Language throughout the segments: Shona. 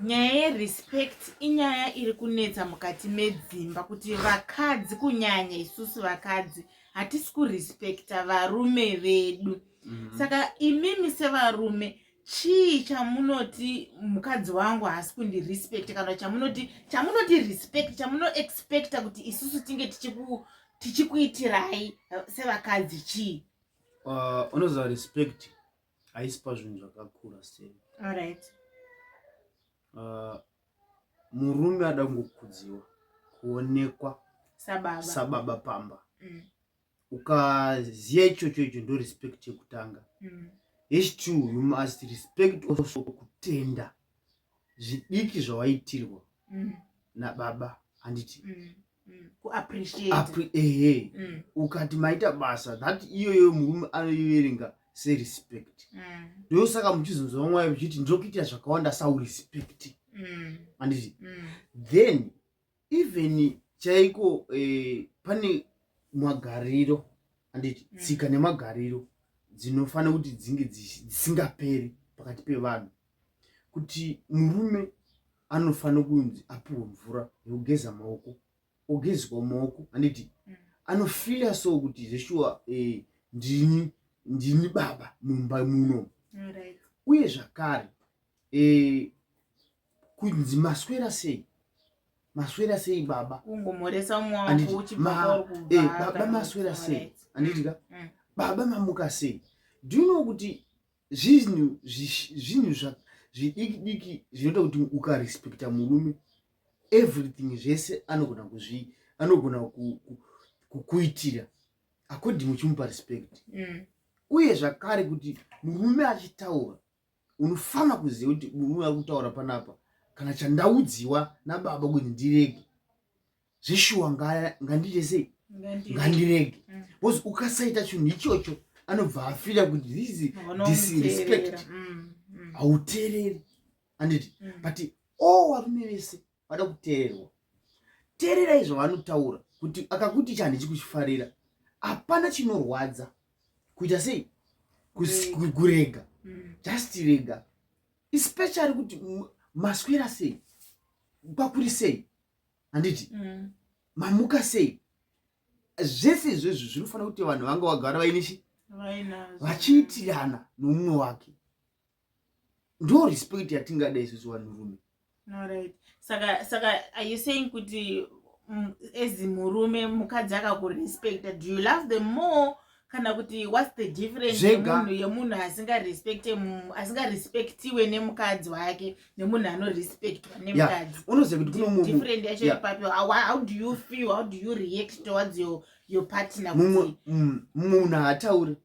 Nyaya yerespect inyaya iri kunetsa mukati medzimba kuti vakadzi kunyanya isusu vakadzi hatisi kurespekta varume vedu mm -hmm. saka imimi sevarume chii chamunoti mukadzi wangu haasi kundirespect kana chamunoti chamunoti respect chamunoexpecta kuti isusu tinge tichikuitirai sevakadzi chii uh, unoziva respect haisi pazvinhu zvakakura sei alright uh, murume ada kungokudziwa kuonekwa sababa, sababa pamba mm. ukaziva ichocho icho ndo respect yekutanga mm. hechitwo you must respect also kutenda zvidiki zvawaitirwa mm. nababa handiti mm. ehe mm. ukati maita basa that iyoyo murume anoiverenga serespect mm. ndosaka muchizonzwa mwayo muchiti ndokuitira zvakawanda saurespect mm. anditi then even chaiko eh, pane magariro anditi tsika nemagariro dzinofanira kuti dzinge dzisingaperi pakati pevanhu kuti murume anofanira kunzi apiwe mvura yekugeza maoko ogezwa maoko handiti mm. anofila so kuti zveshuwa eh, ndini ndini baba mumba muno right. uye zvakare eh, kunzi maswera sei maswera sei baba kungomhoresa umwe wangu uchibva eh, baba maswera sei handiti ka mm. baba mamuka sei do you know kuti zvinhu zvinhu zvidiki diki zvinoita kuti ukarespecta murume everything zvese anogona kuzvi anogona kukuitira according uchimupa respect mm. uye zvakare kuti murume achitaura unofanira kuziva kuti murume ari kutaura panapa kana chandaudziwa nababa kuti ndirege zveshuwa ngandiite sei ngandirege mm. bcause ukasaita chinhu ichocho anobva afira kuti this disrespect mm, mm. hauteereri anditi but o varume vese vada kuteererwa teererai zvavanotaura kuti akakuti ichi handichi kuchifarira hapana chinorwadza kuita sei kurega just rega especially kuti maswera sei kwakuri sei handiti mm. mamuka sei zvese izvezvi zvinofanira kuti vanhu vanga vagara vaine chi vachiitirana noumwe wake ndo respect yatingada isusu vanhurume right. saka saka are you saying kuti as murume mukadzi akakurespecta do you love them more kana kuti whats the difference yemunhu yemunhu asingarespecte asingarespectiwe nemukadzi wake nemunhu anorespectwa nemukadzi unoziva kuti kune mumwe different yacho ipapi how do you feel how do you react towards your your partner mumwe mm, munhu haataure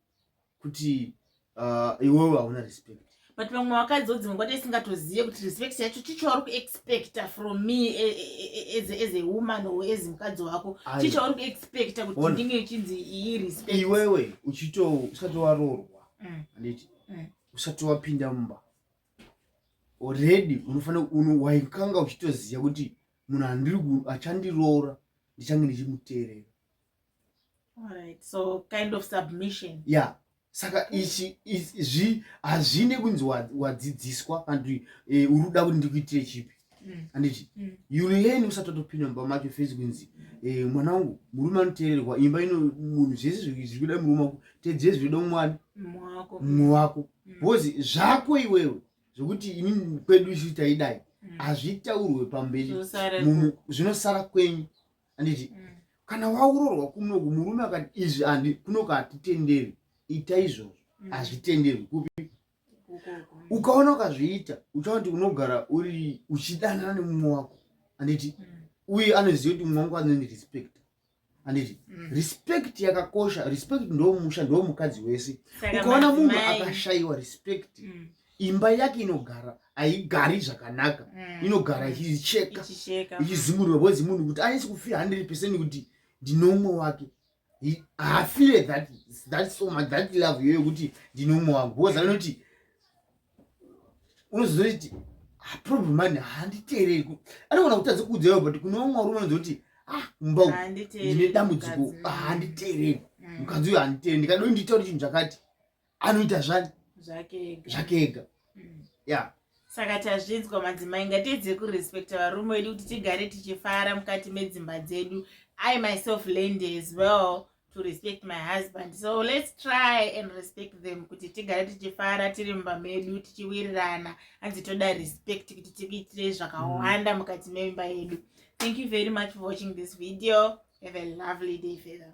kuti Ah, iwewe hauna respect but vamwe vakadzi odzimwe kwati isingatozive kuti respect yacho chii chauri kuexpecta from me e, e, e, as a woman or as mukadzi wako chii chauri kuexpecta kuti ndinge chinzi iyi respect iwewe uchito usati waroorwa mm. anditi mm. usati wapinda mumba already unofanira waikanga uchitoziva kuti munhu andiri achandiroora ndichange ndichimuteerera Alright, so kind of submission. Yeah. Saka ichi izvi hazvine kunzi wadzidziswa and e, eh, uruda kuti ndikuitire chipi. Mm. Anditi mm. you learn usati watopinda mumba macho fezi kunzi e, mwana wangu murume anoteererwa imba ino munhu zvese zviri kuda murume wako tedzere zviri kuda mwana mumwe wako mm. because mm. zvako iwewe zvekuti ini kwedu isu taidai mm. hazvitaurwe pamberi zvinosara kwenyu anditi mm. kana waurorwa kunoku murume akati izvi andi kunoku hatitenderi ita izvozvo mm. hazvitenderwi kupi ukaona ukazviita uchaona kuti unogara uri uchidanana nemumwe wako anditi mm. uye anoziva kuti mumwe wangu anondi respect anditi mm. respect yakakosha respect ndomusha ndomukadzi wese ukaona munhu akashayiwa respect imba yake inogara haigari zvakanaka mm. inogara ichicheka ichizimurwa bcoz munhu kuti anisi kufira hundred percent kuti ndinomwe wake haafire that that so much that love iyoyo kuti ndinomwe wangu bcoz anoti unozozoti ah, problem mani handiteereri anogona kutadza kuudzaiwa but kune vamwe varume anozi kuti ah mumba uku ndine dambudziko handiteereri mukadzi uyo handiteereri ndikadoi nditauri chinhu chakati anoita zvani zvake ega mm. ya saka tazvinzwa madzimai ngatiedze kurespecta varume wedu kuti tigare tichifara mukati medzimba dzedu i myself land as well to respect my husband so let's try and respect them kuti tigare tichifara tiri mumba medu tichiwirirana hanzi toda respect kuti tikuitire zvakawanda mm. mukati memba yedu thank you very much for watching this video have a lovely day fether